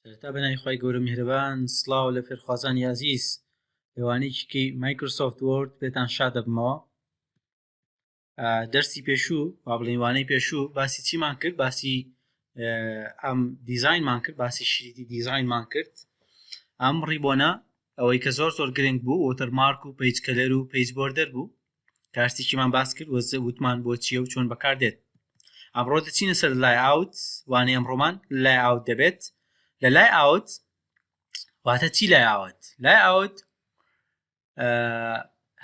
سەرەتا بەناوی خی گەورە میهرەبان سلااو لە فێرخوازانی ئازیز لەوانەیەکی مایکرۆسۆفت وۆرد بێتان شا دەبمەوە دەرسی پێشوو با بڵێوانەی پێشوو باسی چیمان کرد باسی ئەم دیزینمان کرد باسی شریتی دیزینمان کرد ئەم ڕیبۆنە ئەوەی کە زۆر زۆر گرنگ بوو وتەرمارک و پیج کەلەر و پیج بۆردەر بوو کارتێکیمان باس کرد وە وتمان بۆ چیە و چۆن بەکاردێت ئەمڕۆ دەچینە سەر لای ئاوت وانەی ئەمڕۆمان لای ئاوت دەبێت لە لای ئاوت واتە چی لای ئاوت لای ئاوت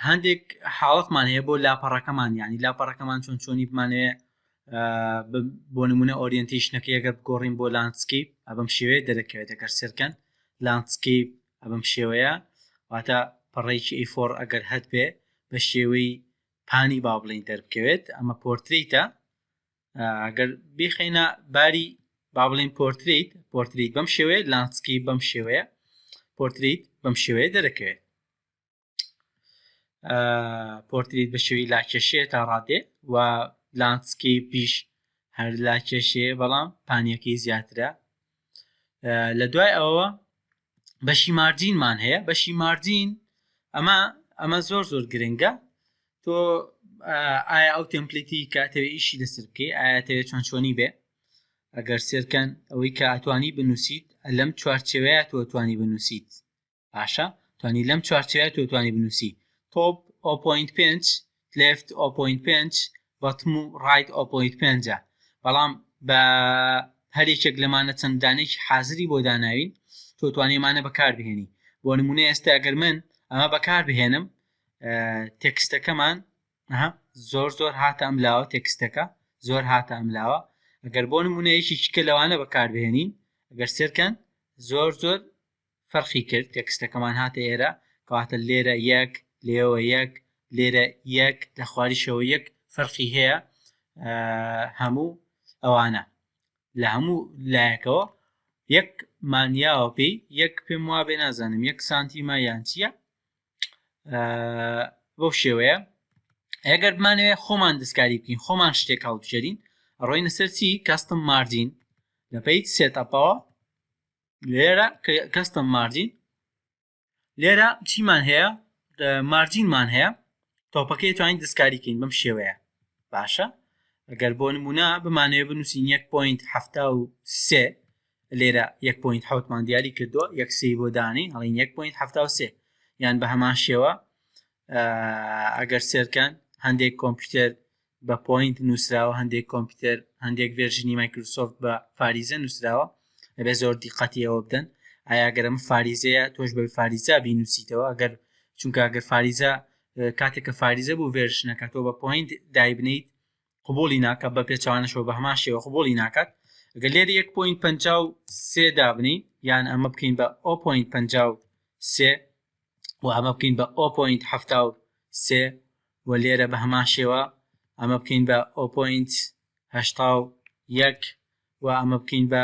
هەندێک حاڵەتمان هەیە بۆ لاپەڕەکەمان ینی لاپەڕەکەمان چۆن چۆنی بمانەیە بۆ نمونە ئۆریەنتیشنەکە ئەگەر بگۆڕین بۆ لانسکیپ ئەبم شێوێ دەرەکەوێت دەگەر سەرکەن لانسکیپ ە بەم شێوەیە واتە پەڕەیەکی ئەی فۆڕ ئەگەر هەتبێ بە شێوەی پانی با بڵین دەربکەوێت ئەمە پۆرتریتە ئەگەر بیخینە باری با بڵین پۆرتریت پۆرتریت بەم شێوەیە لانسکی بەم شێوەیە پۆرتریت بەم شێوەیە دەرەکەوێت پۆرتریت بە شێوی لاکێشەیە تا ڕادێ و لانسکی پیش هەر لاکێشەیە بەڵام پانیەکەی زیاترە لە دوای ئەوە بەشی مارجینمان هەیە بەشی مارجین ئەمە ئەمە زۆر زۆر گرنگە تۆ ئایا ئەو تمپلیتی کاتەوە ئیشی لەسەر بکەی ئاەتەوێت چۆن چۆنی بێ ئەگەر سێرکەن ئەوەی کە ئەتوانی بنووسیت لەم چوارچەوەیە تۆ توانی بنووسیت باشە توانی لەم چوارچێوە تۆ توانی بنووسی تۆپ ئۆپۆینت پێنج لفت ئۆپۆینت پێنج بەتم و ڕایت ئۆپۆیت پێنجە بەڵام بە هەرێکێک لەمانە چەندانێکی حازری بۆ داناوین تۆ توانێمانە بەکاربهێنی بۆ نمونە ئێستا گەر من ئەمە بەکار بهێنم تێکستەکەمان زۆر زۆر هاتە ئەم لاوە تێکستەکە زۆر هاتە ئەم لاوە ئەگەر بۆ نمونە یەکی شکە لەوانە بەکاربهێنین ئەگەر سێرکەن زۆر زۆر فەرقی کرد تێکستەکەمان هاتە ئێرە کەواتە لێرە یەک لێوە یەک لێرە یەک لە خواریشەوە یەک فەرقی هەیە هەموو ئەوانە لە هەموو لایەکەوە یەک مانیاوە پێی یەک پێم وا بێ نازانم یەک سانتیما یان چییە بەو شێوەیە ئەگەر بمانەوێ خۆمان دەستکاری بکەین خۆمان شتێک هەڵبژێرین ڕۆینە سەرچی کەستم مارجین لە پیت سێتەپەوە لێرە کەستم مارجین لێرە چیمان هەیە مارجینمان هەیە تۆپەکەی توانین دەستکاریکەین بەم شێوەیە باشە ئەگەر بۆ نمونە بمانەوە بنووسین 1.73 لێرە 1.7مان دیاری کردووە یەک سی بۆ دانی هەڵین 1.7 یان بە هەمان شێوە ئەگەر سێرکەن هەندێک کۆمپیوتەر بە پۆینت نووسراوە هەندێک کۆمپیوتەر هەندێک ڤێرژنی مایکروسۆفت بە فاریزە نووسراوە ئەبێ زۆر دیقەتی ئەوە بدەن ئایاگەرم فاریزەیە تۆش بە فاریزا بینوسیتەوە ئەگەر چونکە ئەگەر فاریزە کاتێک کە فاریزە بوو ڤێرشنەکە تۆ بە پۆینت دایبنیت قبوڵی ناکە بە پێچوانەشەوە بە هەمان شێوە قبوڵی ناکات گە لێر 1.53 دابنی یان ئەمە بکەین بە 0.53 و ئەمە بکەین بە 0.73 و لێرە بە هەمان شێوە ئەمە بکەین بە 0.81 و ئەمە بکەین بە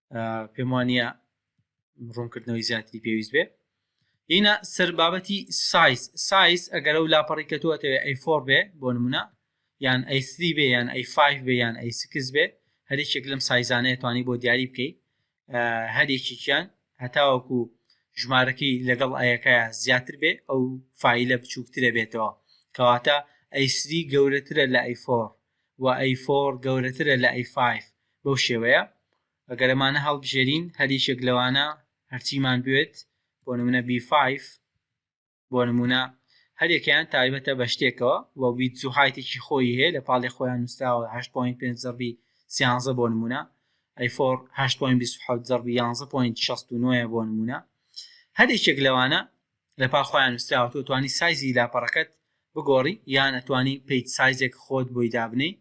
پێم وانە ڕوونکردنەوەی زیاتری پێویست بێ هینا سەر بابەتی سایز سایز ئەگەر ئەو لاپەڕی کە تۆتەوێ ئەی فۆر بێ بۆ نمونە یان ئەی سری بێ یان ئەی فایف بێ یان ئەی سکس بێ هەرێکێک لەم سایزانەیە توانی بۆ دیاری بکەیت هەرێکیان هەتاوەکو ژمارەکەی لەگەڵ ئەیەکە زیاتر بێ ئەو فیلە بچووکترە بێتەوە کەواتە ئەیسری گەورەترە لە ئەیفۆر و ئەی فۆڕ گەورەترە لە ئەی فایڤ بەو شێوەیە ئەگەر ئەمانە هەڵبژێرین هەر یەکێک لەوانە هەرچیمان بوێت بۆ نمونە بی فایڤ بۆ نمونە هەر یەکەیان تایبەتە بە شتێکەوە و ویدز و هایتێکی خۆیی هەیە لە پاڵی خۆیان نوسراوە هەشت پۆینت پێنج زەڕبی سیانزە بۆ نمونە ئەی فۆڕ هەشت پۆینت بیست و حەوت زەڕبی یانزە پۆینت شەست و نۆیە بۆ نمونە هەر یەکێک لەوانە لە پا خۆیان نوسراوە تۆ توانی سایزی لاپەڕەکەت بگۆڕی یان ئەتوانی پیت سایزێک خۆت بۆی دابنێی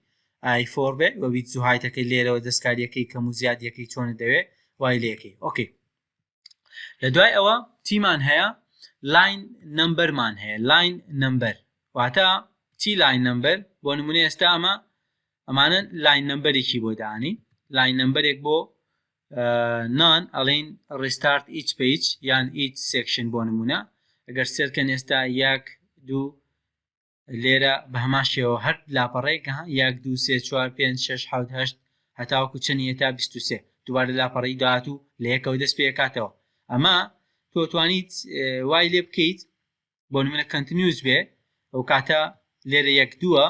ئای فۆر بێ وە ویدز و هایت ئەکەی لێرەوە دەستکاریەکەی کەم و زیاد یەکەی چۆنت دەوێ وای لێ ئەکەی ئۆکەی لە دوای ئەوە چیمان هەیە لاین نمبەر مان هەیە لاین نمبەر واتە چی لاین نمبەر بۆ نمونە ئێستا ئەمە ئەمانە لاین نمبەرێکی بۆ دانی لاین نمبەرێک بۆ نان ئەڵین ڕیستارت ئیچ پەیج یان ئیچ سێکشن بۆ نمونە ئەگەر سێرکەن ئێستا یەک دوو لێرە بە هەمان شێوە هەر لاپەڕێک یەک دوو سێ چوار پێنج شش حەوت هەشت هەتاوەکو چەنی هێتا بیست و سێ دووبارە لاپەڕی داات و لە یەکەوە دەست پێکاتەوە ئەمە تۆ توانیت وای لێ بکەیت بۆ نمونە کەنتنیوز بێ ئەو کاتە لێرە یەک دووە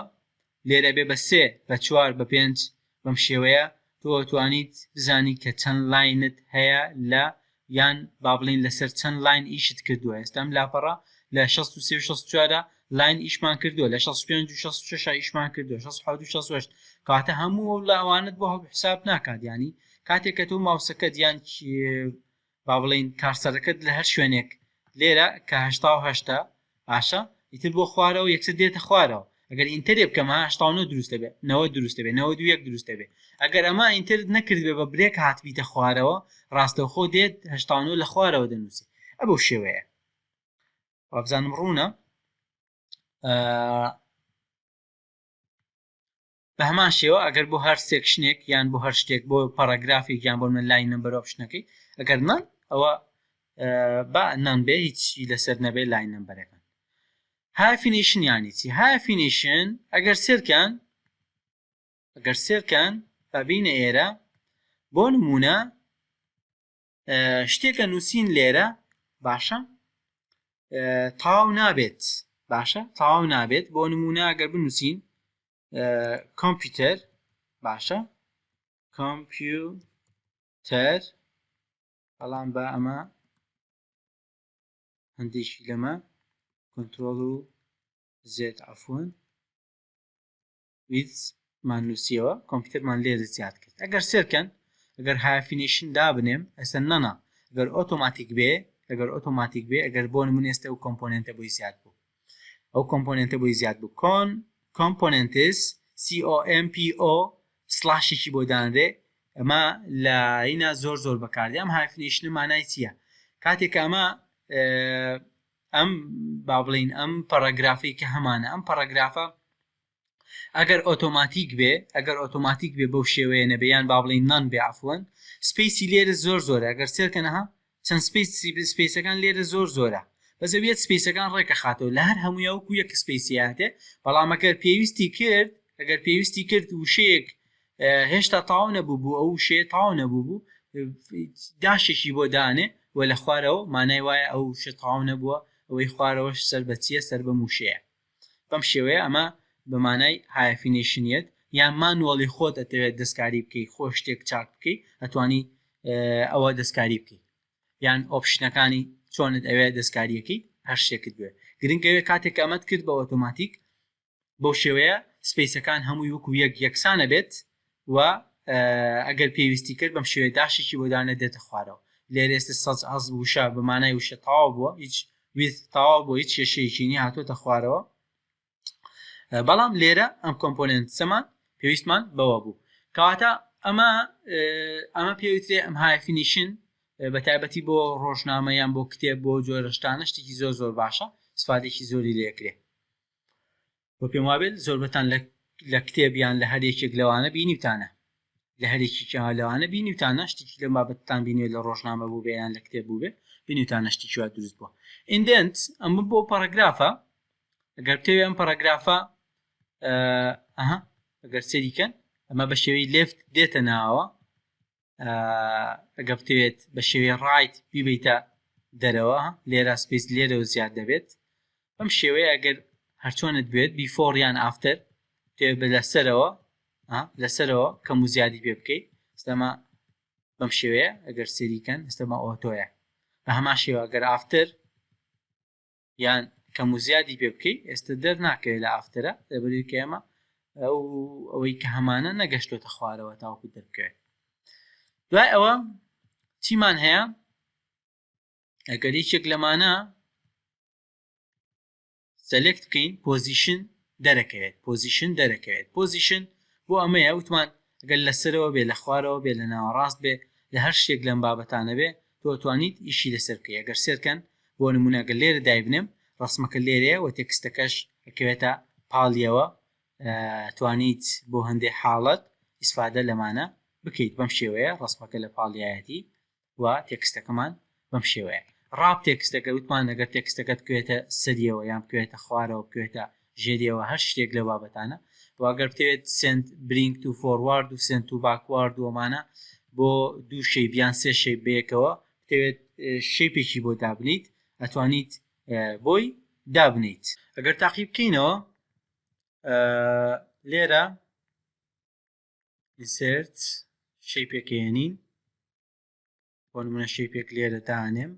لێرە بێ بە سێ بە چوار بە پێنج بەم شێوەیە تۆ توانیت بزانی کە چەند لاینت هەیە لە یان با بڵین لەسەر چەند لاین ئیشت کردووە ئێستا ئەم لاپەڕە لە شەست و سێ و شەست و چوارە لاین ئیشمان کردووە لە شەست و پێنج و شەست و شەش ئیشمان کردووە شەست و حەوت و شەست و هەشت کاتە هەموو ئەو لاوانت بۆ هەڵ حساب ناکات یانی کاتێک کە تۆ ماوسەکەت یان با بڵێین کارسەرەکەت لە هەر شوێنێک لێرە کە هەشتا و هەشت ە باشە ئیتر بۆ خوارەوە یەکسەر دێتە خوارەوە ئەگەر ئینتەرێ بکەم ها هەشتا و نۆ دروست دەبێ نەوەد دروست دەبێ نەوەد و یەک دروست دەبێ ئەگەر ئەمە ئینتەرت نەکردبێ بە برێک هاتبیتە خوارەوە ڕاستەوخۆ دێت هەشتا و نۆ لە خوارەوە دەنووسی ئە بەو شێوەیە وابزانم ڕوونە بە هەمان شێوە ئەگەر بۆ هەر سێکشنێک یان بۆ هەر شتێک بۆ پەڕەگرافێک یان بۆ منە لاین نمبەر ئۆپشنەکەی ئەگەر نان ئەوە با نان بێ هیچی لەسەر نەبێ لاین نمبەرەکان هافینیشن یانی چی هافینیشن ئەگەر سێرکان ئەگەر سێرکان بابینە ئێرە بۆ نمونە شتێکە نووسین لێرە باشە تاو نابێت باشە تاو نابێت بۆ نمونە گەر بنووسین کۆمپیوتەر باشە کۆمپیوتەر بەڵام بە ئەمە هەندێکی لەمە کۆنتترۆل و زێت ئەفۆن with مان نووسیەوە کۆمپیوتەرمان لێرە زیاد کرد ئەگەر سێرکەن ئەگەر هایفینیشن دابنێم ئەسەر نەنا ئەگەر ئۆتۆماتیک بێ ئەگەر ئۆتۆماتیک بێ ئەگەر بۆ نمونە ئێستا ئەو کۆمپۆنێنتە بۆی زیاد بوو ئەو کۆمپۆنێنتە بۆی زیاد بوو کۆن کۆمپۆنێنتس COMPO سلاشێکی بۆ دانرێ ئەمە لە ئینا زۆر زۆر بەکاردێ ئەم هایفینیشنە مانای چییە کاتێک ئەمە ئەم با بڵین ئەم پەڕەگرافی کە هەمانە ئەم پەڕەگرافە ئەگەر ئۆتۆماتیک بێ ئەگەر ئۆتۆماتیک بێ بەو شێوەیە نەبێ یان با بڵێین نان بێ عەفوەن سپەیسی لێرە زۆر زۆرە ئەگەر سێرکەنە ها چەند سپەیس سپەیسەکان لێرە زۆر زۆرە بەس ئەویەت سپەیسەکان ڕێکەخاتەوە لە هەر هەموویا وەکو یەک سپەیسی هاتێ بەڵام ئەگەر پێویستی کرد ئەگەر پێویستی کرد وشەیەک هێشتا تاو نەبوو بوو ئەو شێ تاو نەبوو بوو داشێکی بۆ دانێ و لە خوارەوە مانای وایە ئەو شە تاو نەبووە ئەوەی خوارەوەش سەر بەچیە سەر بە موشەیە بەم شێوەیە ئەمە بە مانای هایەفینەیشن یەت یان مانوەڵی خۆت ئەتەوێت دەستکاری بکەی خۆ شتێک چاک بکەی ئەتوانی ئەوە دەستکاری بکەی یان ئۆپشنەکانی چۆنت ئەوێ دەستکاریەکەی هەر شتێکت بێ گرنگەوێ کاتێک ئەمەت کرد بە ئۆتۆماتیک بەو شێوەیە سپیسەکان هەمووی وەکو یەک یەکسانە بێت و ئەگەر پێویستی کرد بەم شێوەیە داشێکی بۆ دانێت دێتە خوارەوە. لێرە ئێستا such as وشە بە مانای وشە تەواو بووە هیچ with تەواو بۆ هیچ کێشەیەکی نیە هاتووەتە خوارەوە بەڵام لێرە ئەم کۆمپۆننت سەمان پێویستمان بەوە بوو کەواتە ئەمە ئەمە پێوترێ ئەم هایفینیشن بە تایبەتی بۆ ڕۆژنامە یان بۆ کتێب بۆ جۆرەشتانە شتێکی زۆر زۆر باشە سفادێکی زۆری لێکرێ وە پێم وابێت زۆربەتان لە لە کتێب یان لە هەر یەکێک لەوانە بینیوتانە لە هەرێکیکیان لەوانە بینیوتانە شتێکی لەم بابەتتان بینێ لە ڕۆژنامە بوو بێ یان لە کتێب بوو بێ بینیوتانە شتێکی وا دروست بووە ئیندنت ئەمە بۆ پەڕەگرافە ئەگەر بتەوێ ئەم پەڕەگرافە ئەها ئەگەر سەریکەن ئەمە بە شێوەی لێفت دێتە ناوە ئەگە بتەوێت بە شێوەی ڕایت بیبیتە دەرەوە لێرە سپیس لێرەوە زیاد دەبێت بەم شێوەیە ئەگەر هەرچۆنت بێت بیفۆڕ یان ئافتەر تێ بە لەسەرەوە لەسەرەوە کەم و زیادی پێ بکەیت ئستەما بەم شێوەیە ئەگەر سریکەن ئستەما ئۆتۆیە بە هەما شێوە گەر ئافتر یان کەم و زیادی پێ بکەی ئێستا دەر ناکەوێت لە ئافترە لەبەری کە ئێمە ئەو ئەوەی کە هەمانە نەگەشتۆتە خوارەوە تاوکو دەرکەوێت دوای ئەوە چیمان هەیە ئەگەر یەکێک لەمانە سەلێکت بکەین پۆزیشن دەرەکەوێت پۆزیشن دەرەکەوێت پۆزیشن بۆ ئەمەیە وتمان گەل لەسەرەوە بێ لە خوارەوە بێ لە ناوەڕاست بێ لە هەر شتێک لەم بابەتانە بێ تۆ توانیت ئیشی لەسەر بکەی ئەگەر سێرکەن بۆ نمونە گەر لێرە دایبنێم ڕەسمەکە لێرەیە وە تێکستەکەش ئەکەوێتە پاڵیەوە توانیت بۆ هەندێ حاڵەت ئیسفادە لەمانە بکەیت بەم شێوەیە ڕەسمەکە لە پاڵیایەتی و تێکستەکەمان بەم شێوەیە ڕاپ تێکستەکە وتمان لەگەر تێکستەکەت کوێتە سەریەوە یان کوێتە خوارەوە کوێتە ژێری ئەوە هەر شتێک لەو بابەتانە و ئەگەر بتەوێت سێنت برینگ تو فۆروارد و سێنت و باکوارد و ئەمانە بۆ دوو شەیب یان سێ شەیب بەیەکەوە بتەوێت شەیپێکی بۆ دابنیت ئەتوانیت بۆی دابنیت ئەگەر تاقی بکەینەوە لێرە ئینسرت شەی پێکێنین بۆ نمونە شەی پێک لێرە دانێم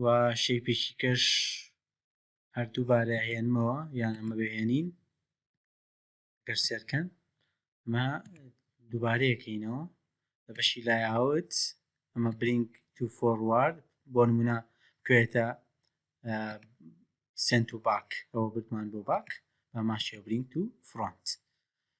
و شەی پێکی کەش هەر دووبارە ئەهێنمەوە یان ئەمە بهێنین گەر سێرکەن ئەمە دووبارەیەکەینەوە لە بەشی لای ئاوت ئەمە برینگ تو فۆڕوارد بۆ نمونە کوێتە سنت و باک ئەوە بردمان بۆ باک بە ماشیە برینگ تو فرۆنت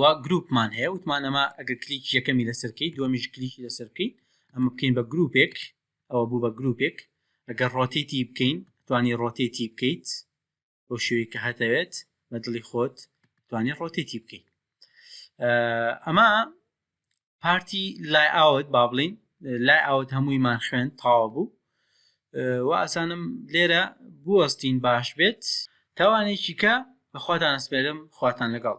وا گروپمان هەیە وتمان ئەمە ئەگە کلیک یەکەمی لەسەرکەی دومیش کلیکی لەسەر بکەین ئەمە بکەین بە گروپێک ئەوە بوو بە گروپێک ئەگەر ڕۆتێتی بکەین توانی ڕۆتێتی بکەیت بۆ شوێی کە هەتەوێت بە دڵی خۆت توانی ڕۆتێتی بکەیت ئەمە پارتی لای ئاوت با بڵین لای ئاوت هەموویمان خوێن تاوا بوو و ئاسانم لێرە بوەستین باش بێت تاوانێکی کە بەخواتان ئەسپێرم خواتان لەگەڵ